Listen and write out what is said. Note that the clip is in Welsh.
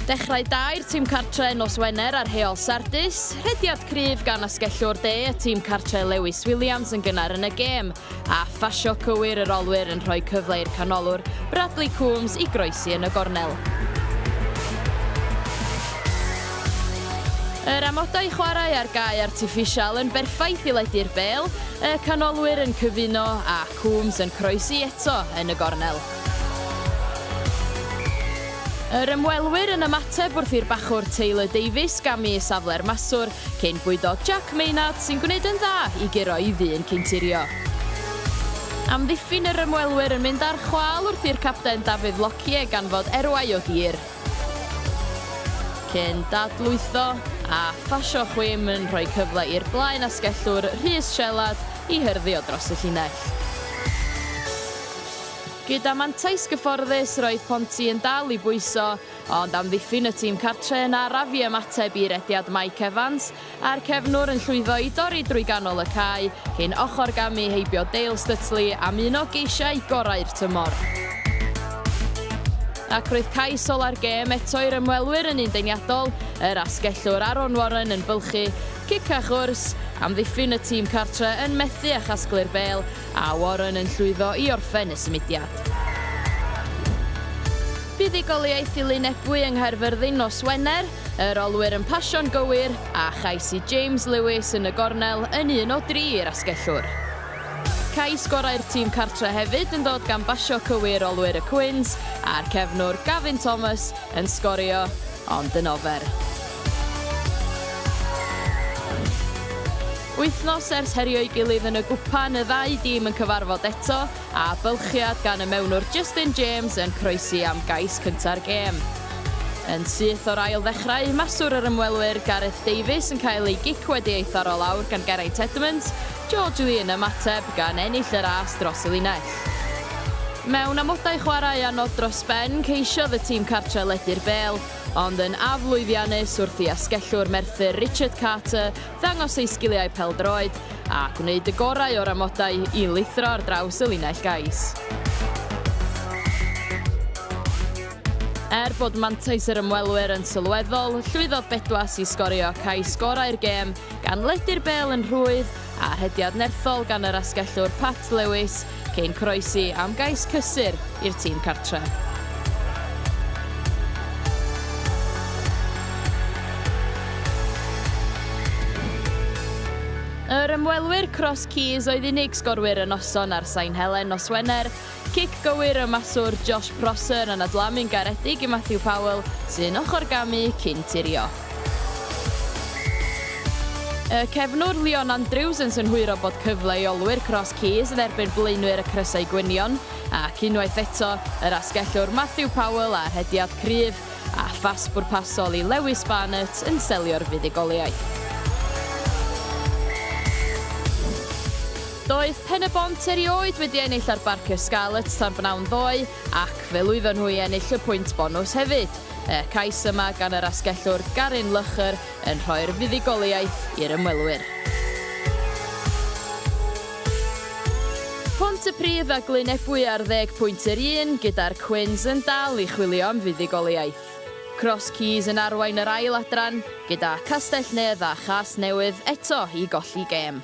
Dechrau da i'r tîm cartre nos Wener ar heol Sardis, rhediad cryf gan asgellwr de y tîm cartre Lewis Williams yn gynnar yn y gêm, a phasio cywir yr olwyr yn rhoi cyfle i'r canolwr Bradley Coombs i groesi yn y gornel. Yr amodau chwarae a'r gae artiffisial yn berffaith i ledu'r bel, y canolwyr yn cyfuno a Coombs yn croesi eto yn y gornel. Yr ymwelwyr yn ymateb wrth i'r bachwr Taylor Davies gamu i safle'r maswr cyn bwydo Jack Maynard sy'n gwneud yn dda i guro i ddyn ceinturio. Amddiffyn yr ymwelwyr yn mynd ar chwâl wrth i'r capten Dafydd Lockyer ganfod erwau o dir. Cyn dadlwytho a phasio chwim yn rhoi cyfle i'r blaen asgellwr Rhys Shelard i hyrddio dros y llinell. Gyda mantais gyfforddus roedd Ponty yn dal i bwyso, ond amddiffyn y tîm cartre yn araf i ymateb i rediad Mike Evans a'r cefnwr yn llwyddo i dorri drwy ganol y cae cyn ochr gamu heibio Dale Stutley am un o geisiau gorau'r tymor. Ac roedd cais ola'r gêm eto i'r ymwelwyr yn un deniadol, yr asgellwr Aaron Warren yn bylchu, cicach wrs, amddiffyn y tîm cartre yn methu â chasglu'r bêl, a Warren yn llwyddo i orffen y symudiad. Buddugoliaeth i Lyn Ebwy yng Nghaerfyrddin nos Wener. Yr olwyr yn pasio'n gywir, a chais i James Lewis yn y gornel yn un o dri i'r asgellwr. Cais gorau'r tîm cartre hefyd yn dod gan basio cywir olwyr y Cwins a'r cefnwr Gavin Thomas yn sgorio, ond yn ofer. Wythnos ers herio'i gilydd yn y gwpan, y ddau dîm yn cyfarfod eto, a bylchiad gan y mewnwr Justin James yn croesi am gais cynta'r gêm. Yn syth o'r ail ddechrau, maswr yr ymwelwyr Gareth Davies yn cael ei gic wedi ei tharo lawr gan Geraint Edmonds, George Lee yn ymateb gan ennill y ras dros y linell. Mewn amodau chwarae anodd dros ben, ceisiodd y tîm cartre ledu'r bêl, ond yn aflwyddiannus wrth i asgellwr Merthyr Richard Carter ddangos eu sgiliau pêl-droed a gwneud y gorau o'r amodau i lithro ar draws y linell gais. Er bod mantais yr ymwelwyr yn sylweddol, llwyddodd Bedwas i sgorio cais gorau'r gêm gan ledu'r bêl yn rhwydd a rhediad nerthol gan yr asgellwr Pat Lewis Cyn croesi am gais cysur i'r tîm cartre. Yr ymwelwyr Cross Keys oedd unig sgorwyr y noson ar Sain Helen nos Wener. Cic gywir y maswr Josh Prosser yn adlamu'n garedig i Matthew Powell, sy'n ochr gamu cyn tirio. Y cefnwr Leon Andrews yn synhwyro bod cyfle i olwyr Cross Keys dderbyn blaenwyr y Crysau Gwynion, ac unwaith eto, yr asgellwr Matthew Powell â rhediad cryf a phas bwrpasol i Lewis Barnett yn selio'r fuddugoliaeth. Doedd Pen-y-bont erioed wedi ennill ar Barker Scarlets tan b'nawn ddoe, ac fe lwyddon nhw i ennill y pwynt bonws hefyd. Y cais yma gan yr asgellwr Garyn Lychr yn rhoi'r fuddugoliaeth i'r ymwelwyr. Pontypridd a Glyn Ebwy ar ddeg pwynt yr un, gyda'r Cwins yn dal i chwilio am fuddugoliaeth. Cross Keys yn arwain yr ail adran, gyda Castell-nedd a Chasnewydd eto i golli gêm.